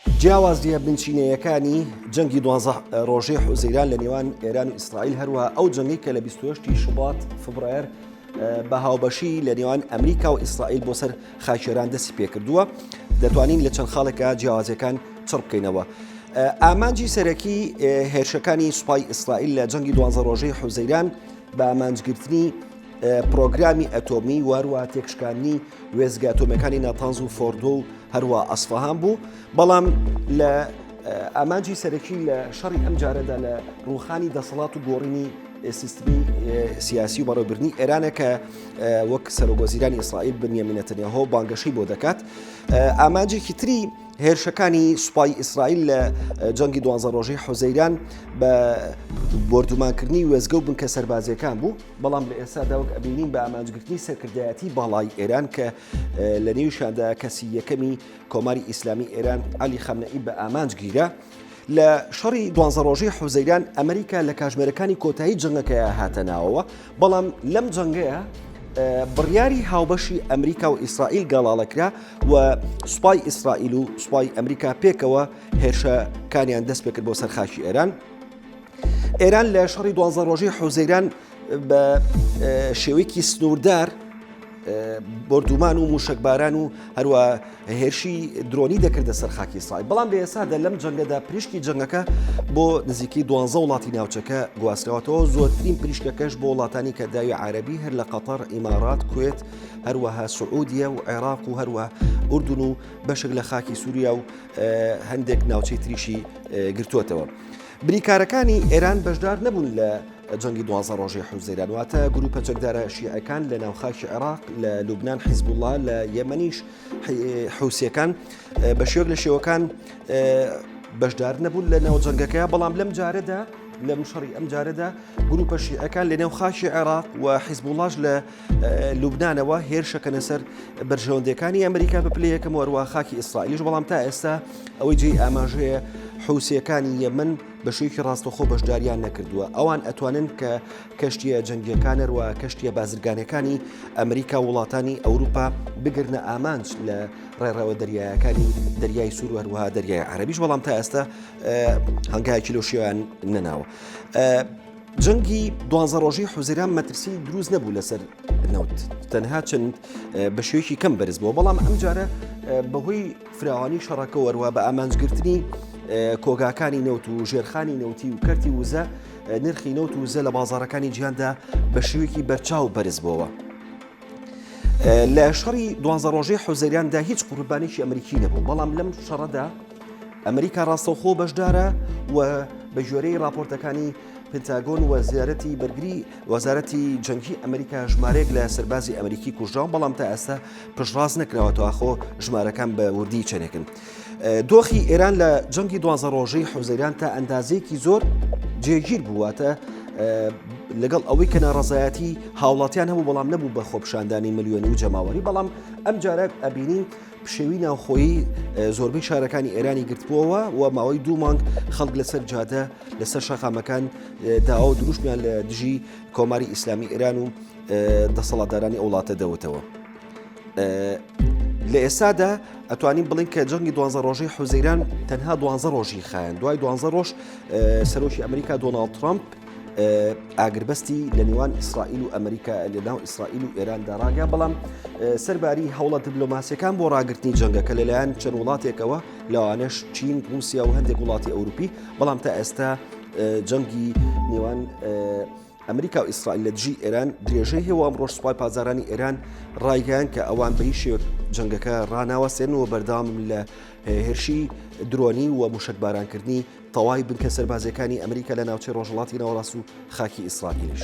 جیاوازییە بنچینەیەکانی جەنگی دوازدە ڕۆژەی حوزەیران لە نێوان ئێران و ئیسرائیل هەروەها ئەو جەنگی کە لە 28 شوبات فبرایەر بە هاوبەشی لە نێوان ئەمریکا و ئیسرائیل بۆ سەر خاچێران دەستی پێکردووە دەتوانین لە چەند خاڵێکە جیاوازەکان چڕ بکەینەوە. ئامانجی سەرەکی هێرشەکانی سوپای ئیسرائیل لە جەنگی دوازە ڕۆژەی حوزەیران بە ئامانجگرتنی پڕۆگرامی ئەتۆمی و هەروە تێکشکاندنی وێزگە ئەتۆمیەکانی ناتانز و فۆردۆ و هەروە ئەسفەهان بوو بەڵام لە ئامانجی سەرەکی لە شەڕی ئەم جارەدا لە ڕوخانی دەسەڵات و گۆڕینی سیستمی سیاسی و بەڕێبرنی ئێرانە کە وەک سەرۆگۆزیرانی ئیسرائیل بنیامینەتەنیهۆ بانگەشەی بۆ دەکات ئامانجێکی تری هێرشەکانی سوپای ئیسرائیل لە جەنگی دوانزە ڕۆژەی حوزەیران بە بردومانکردنی وێزگە و بنکە سەربازیەکان بوو بەڵام لە ئێستادا وەک ئەبینین بە ئامانجگرتنی سەرکردایەتی باڵای ئێران کە لە نێوشاندا کەسی یەکەمی کۆماری ئیسلامی ئێران علی خەمنەئی بە ئامانج گیرە لە شەڕی دوانزە ڕۆژی حوزەیران ئەمریکا لە کاژمێرەکانی کۆتایی جنگەکەیە هاتە ناوەوە بەڵام لەم جنگەیە بڕیاری هاوبەشی ئەمریکا و ئیسرائیل گەڵاڵەکرا و سوپای ئیسرائیل و سوپای ئەمریکا پێکەوە هێرشەکانیان دەست پێکرد بۆ سەرخاکی ئێران ئێران لە شەڕی دوازە ڕۆژەی حوزەیران بە شێوەیەکی سنووردار بردومان و موشکباران و هەروە هێرشی درۆنی دەکردە سەر خاکی سای بەڵام لە ئێسادا لەم جەنگەدا پریشکی جەنگەکە بۆ نزیکەی دوانزە وڵاتی ناوچەکە گواستەوەتەوە زۆرترین پریشکەکەش بۆ وڵاتانی کە داوی عربی هەر لە قەتەر ئیمارات کوێت هەروەها سعودیە و عێراق و هەروە ئوردون و بەشک لە خاکی سووریا و هەندێک ناوچەی تریشی گرتووەتەوە. بریکارەکانی ئێران بەشدار نەبوون لە جەنگی دوازە ڕۆژی حوزەیران واتە گروپە چەکدارە شیعەکان لە ناوخاکی عێراق لە لوبناان حیزبوڵا لە یەمەنیش حوسەکان بە شێوک لە شێوەکان بەشدار نەبوون لە ناو جەنگەکە بەڵام لەم جارەدا لە مشەڕی ئەم جارەدا گروپە شیعەکان لە نێو خاکی عێراق و حیزبوڵاش لە لوبنانەوە هێرشەکەنە سەر بەرژەوەندەکانی ئەمریکا بە پلە یەکەم وەروە خاکی ئیسرائیلیش بەڵام تا ئێستا ئەوەی جێی ئاماژەیە حوسەکانی یەمن بە شوێکی ڕاستەخۆ بەشداریان نەکردووە ئەوان ئەتوانن کە کەشتیە جەنگیەکانەروە کەشتیە بازرگانەکانی ئەمریکا وڵاتانی ئەوروپا بگرنە ئامانج لە ڕێڕەوە دەریایەکانی دەریای سووروەروە دەریای عربیش بەڵام تا ئێستا هەنگایکی لۆشیان نەناوە. جەنگی دوانزە ڕۆژی حوزیران مەترسی دروست نەبوو لەسەر نەوت تەنها چەند بە شێوەیەکی کەم بەرز بووە بەڵام ئەم جارە بەهۆی فراوانی شەڕەکە وەروە بە ئامانجگرتنی کۆگاکانی نەوت و ژێرخانی نەوتی و کەرتی وزە نرخی نەوت و وزە لە بازارەکانی جیاندا بە شێوەیەکی بەرچاو بەرز بووە. لە شەڕی دوانزە ڕۆژەی حوزەریاندا هیچ قوربانێکی ئەمریکی نەبوو بەڵام لەم شەڕەدا ئەمریکا ڕاستەوخۆ بەشدارە و بە گوێرەی راپۆرتەکانی پنتاگۆن وەزیارەتی بەرگری وەزارەتی جەنگی ئەمریکا ژمارەیەک لە سەربازی ئەمریکی کوژراو بەڵام تا ئێستا پشڕاز نەکراوەەوە ئاخۆ ژمارەکان بە وردی چەنێکن. دۆخی ئێران لە جەنگی دوازە ڕۆژەی حوزەیران تا ئەندازەیەکی زۆر جێگیر بوواتە لەگەڵ ئەوەی کە ناڕزایەتی هاوڵاتیان هەبوو بەڵام نەبوو بە خۆپشاندانی ملیۆنی و جەماوەری بەڵام ئەم جارە ئەبینین پشێوی ناوخۆیی زۆربەی شارەکانی ئێرانی گرتبووەوە و ماوەی دوو مانگ خەڵک لەسەر جادە لەسەر شەقامەکان داوا و دروشمیان لە دژی کۆماری ئیسلامی ئێران و دەسەڵاتدارانی وڵاتە دەوتەوە. لە ئێستادا ئەتوانین بڵین کە جەنگی دوانزە ڕۆژەی حوزەیران تەنها دوانزە ڕۆژی خایەن دوای دوانزە ڕۆژ سەرۆکی ئەمریکا دۆناالد ترامپ ئاگربەستی لە نێوان ئیسرائیل و ئەمریکا لەناو ئیسرائیل و ئێراندا ڕاگە بەڵام سەرباری هەوڵە دیبلۆماسیەکان بۆ ڕاگررتنی جەنگەکە لەلایەن چەند وڵاتێکەوە لەوانش چین رووسیا و هەندێک وڵاتی ئەوروپی بەڵام تا ئێستا جەنگی نێوان ئەمریکا و ئیسرائیل لە دژی ئێران درێژەی هەیە ئەم ڕۆژ سوپای پازارانی ئێران ڕایگەیان کە ئەوان بە هیچ شێوە جەنگەکە ڕناوەسێنەوە بەردام لە هێرشی درۆنی و مشکبارانکردنی تەواوی بنکە سەربازییەکانی ئەمریکا لە ناوچەی ڕۆژهەڵاتی ناوەڕاست و خاکی ئیسرائیلیش.